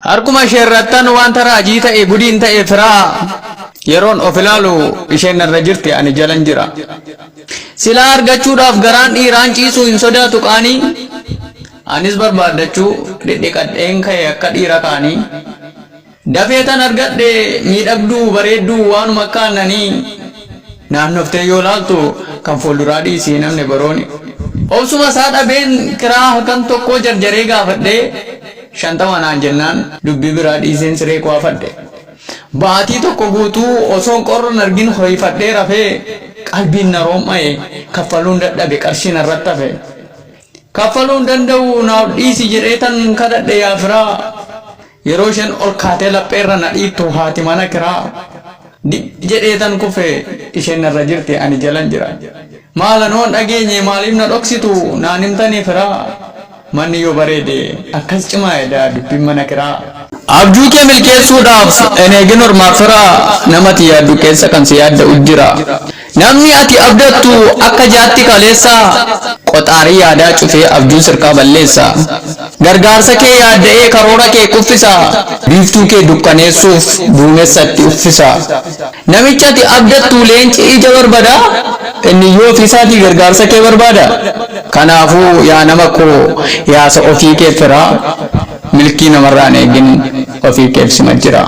Harkuma isheerrattan wanta raajii ta'e gudiin ta'e firaa yeroon of ilaalu isheen narra jirti ani jalan jira. Silaa argachuudhaaf garaan dhiiraan ciisuu hin sodaatu qaanii anis barbaaddachuu dhidhiqadheen ka'e akka dhiira kaanii. Dafee tan argadhe miidhagduu bareedduu waanuma akka aannanii naannoftee yoo laaltu kan fuulduraa dhiisi hin hafne borooni. Obsuma isaa dhabeen kiraa halkan tokkoo jarjaree gaafadhee. Shantama naan jennaan dubbii biraa dhiiseen siree koo afadhe. Baatii tokko guutuu osoon qorra hin argin ho'ifadhee rafee qalbiin na rom'ae kaffaluun dadhabe qarshii narratti hafe. Kaffaluu hin danda'u naaf dhiisi jedheetan kadhadhe yaa firaa. Yeroo isheen ol kaatee lapheerra na dhiittu haati mana kiraa. Dim jedheetan kufe isheen narra jirti ani jalan jira. Maal anoon dhageenye maaliif na dhoksitu naan himtanii firaa. Manni yoo bareede akkas cimaa edaa dubbin mana kiraa. Abjuu kee milkeessuu dhaaf hin eegin ormaaf fira nama ati yaaddu keessa kan si yaadda'u jira namni ati abdattu akka jaatti kaleessa qoxaarii yaadaa cufee abjuu sirkaa balleessa gargaarsa kee yaadda'ee karoora kee kuffisa biiftuu kee dukkaneessuuf duumessa itti uffisa Namichi ati abdattu leenci ija barbada, inni iyyuu ofii isaatii gargaarsa kee barbaada. Kanaafuu yaa nama koo yaasa ofii kee firaa, milkii namarraa hin eegin, ofii keef sima jira.